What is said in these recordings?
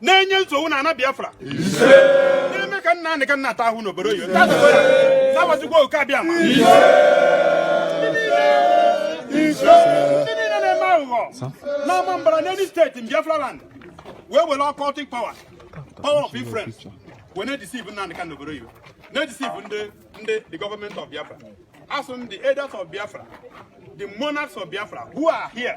na-enye nsogbu na ana Biafra na-eme ka Nnamdi Kanu na-ata ahụhụ n'obodo oyibo taata ka ọ ya zawazikwa oke abịa ma ndị niile na-eme aghụghọ n'ọma mbara in any state in Biafra land wee were occultic power power of influence wee na-edisiv Nnamdi Kanu n'obodo oyibo na-edisiv ndị ndị the government of Biafra asị m the elders of Biafra the monarchs of Biafra who are here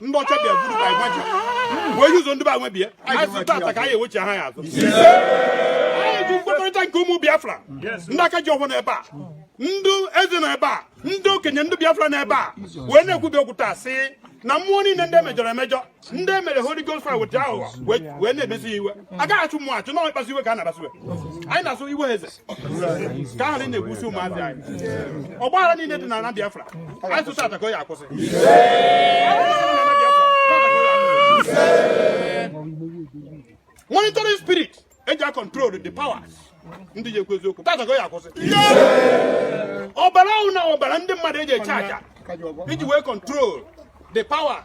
ndị ọcha bịa buru ka anyị wee ji ụzọ ndị be anyị bịa anyị sị taata ka anyị ewechigha ya azụ anyị ji mkpakọrịta nke ụmụ Biafra ndị aka ji ọfọ nọ ebe a ndị eze nọ ebe a ndị okenye ndị Biafra nọ ebe a wee na-ekwubi okwu taa sị na mmụọ niile ndị emejọrọ emejọ ndị emere Holy Ghost fire weta aghụghọ wee na-emesi iwe agaghị achụ mmụọ achụ na ọkpasi iwe ka a na-akpasi iwe anyị na-asụ iwe eze ka ahụ na-egbusi ụmụazị anyị ọgbaghara niile dị na Biafra anyị sị taata ka ọ ya-akwụsị monitoring spirit eji a control the powers ndị ji ekwu eziokwu taata ka ọ ya-akwụsị ọbara ọhụrụ na ọbara ndị mmadụ eji achụ aja iji wee control the powers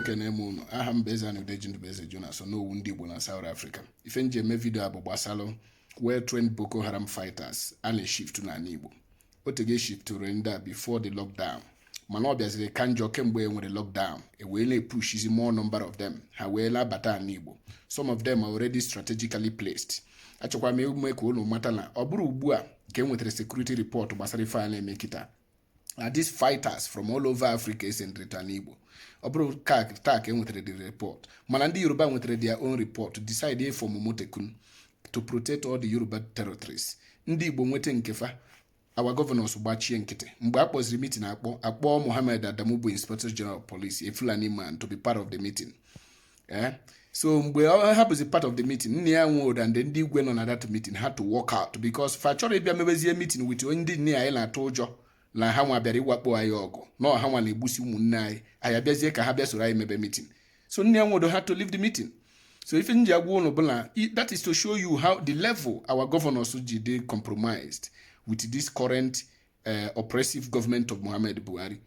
ekene m ụnụ aha m bụ eze na Udeji Ndubueze Jonas Onowu ndị Igbo na South Africa ife nji eme vidio a bụ gbasalụ well trained Boko Haram fighters a na-eshiftu n'ana Igbo otego eshiftụrụ ndị a before the lockdown mana ọ bịaziri ka njọ kemgbe e nwere lockdown e wee na-epushizi more number of them ha wee la-abata ana Igbo some of them are already strategically placed achọkwa m ime ka ụnụ mata na ọ bụrọ ugbu a ka e nwetara security report gbasara ife a na-eme kịta na these fighters from all over Africa esendrịta n'Igbo ọ bụrọ kịta ka e nwetara the report mana ndị Yoruba nwetara their own report decide ịfọmụ Amotekun to protect all the Yoruba territories ndị Igbo nweta nke fa our governors gbachie nkịtị mgbe a kpọziri mitin akpọ akpọ Mohammed Adamu bụ inspector general of police a Fulani man to be part of the meeting eh? so mgbe ọ hapụzi part of the meeting Nnia Nwodo and ndị igwe nọ na that meeting had to walk out because fa achọrọ ịbịa mebezie meeting with onye ndị nne anyị na-atụ ụjọ na ha nwa bịara ịwakpo anyị ọgụ na ọ ha nwa na-egbusi ụmụnne anyị anyị abịazie ka ha bịa soro anyị mebe meeting so Nnia Nwodo had to leave the meeting so ife nji agwa unu bụ na that is to show you how the level our governors ji dị compromised with this current eh, oppressive government of Muhammad Buhari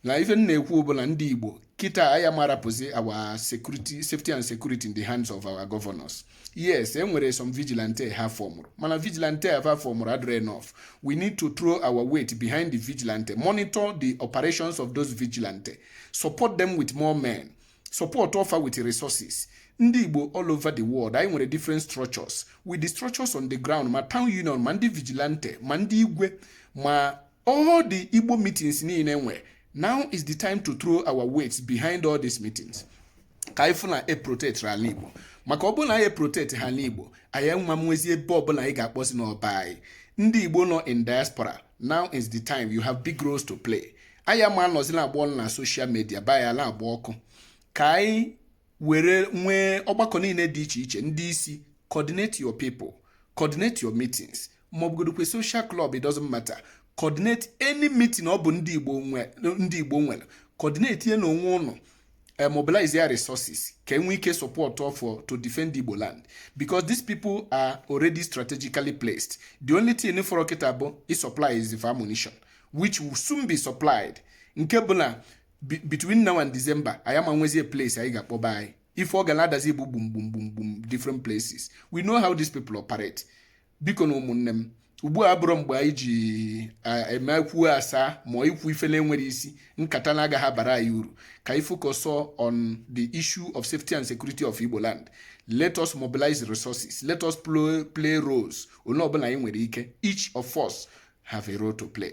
na ife m na-ekwu bụ na ndị Igbo kịta anyị ama rapụzi our security safety and security in the hands of our governors yes e nwere some vigilante ha fọmụrụ mana vigilante ha fọmụrụ adịrọ enough we need to throw our weight behind the vigilante monitor the operations of those vigilante support them with more men supportuo fa with resources ndị igbo all over the world anyị nwere different structures with the structures on the ground ma town union ma ndị vigilante ma ndị igwe ma all the igbo meetings niile e nwe now is the time to throw our weights behind all these meetings ka anyị fụ na e protect ala igbo maka ọ bụrụ na anyị protect ha ala igbo anyị ama nwezi ebe ọbụla anyị ga-akpọzi n'ọ be anyị ndị igbo nọ in diaspora now is the time you have big roles to play anyị ama anọzi na-agba ọnụ na social media be anyị na-agba ọkụ ka anyị were nwee ọgbakọ niile dị iche iche ndị isi coordinate your people coordinate your meetings maọbụgodokwe social club it doesn't matter coordinate any meeting ọ bụ ndị Igbo nwere coordinatie nụ onwe ụnụ uh, mobilize their resources ka enwee ike support fa to defend Igbo land because these people are already strategically placed the only thing fọrọ kịta bụ ị supplyzi fa ammunition which will soon be supplied nke bụ na between now and December anyị ama nwezie place anyị ga-akpọ be anyị ife ọ ga na-adazi bụ gbum gbum gbum gbum different places we know how these people operate bikonụ ụmụnne m ugbu a abụrọ mgbe anyị ji eme e kwuo a saa ma ikwu ife na-enwerọ isi nkata na-agaghị abara anyị uru ka anyị focus on the issue of safety and security of Igbo land let us mobilize resources let us play roles onye ọbụla anyị nwere ike each of us have a role to play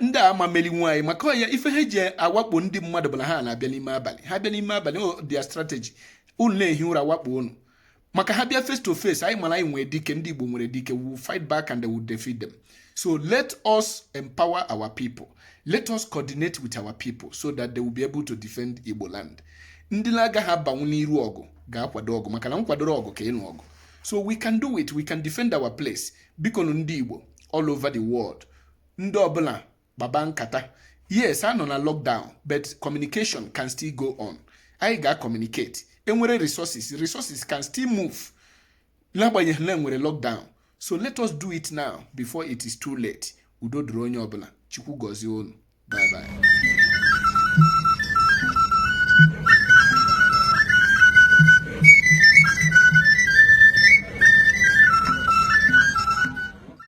ndị a ama melinwu anyị maka why ife ha ji awakpo ndị mmadụ bụ na ha na-abịa n'ime abalị ha bịa n'ime abalị ọ their strategy unu na-ehi ụra wakpo unu maka ha bịa face to face anyị mara anyị nwere dike ndị Igbo nwere dike we will fight back and they will defeat them so let us empower our people let us coordinate with our people so that they will be able to defend Igbo land ndị na-agaghị abanwu n'iru ọgụ ga-akwado ọgụ maka na nkwadoro ọgụ ka ịnụ ọgụ so we can do it we can defend our place biko ndị Igbo all over the world ndị ọbụla kpaba nkata yes a nọ na lockdown but communication can still go on anyị ga-acommunicate enwere resources resources can still move n'agbanyeghị na enwere lockdown so let us do it now before it is too late udo dịrị onye ọbụla chukwu gọzie unu bye bye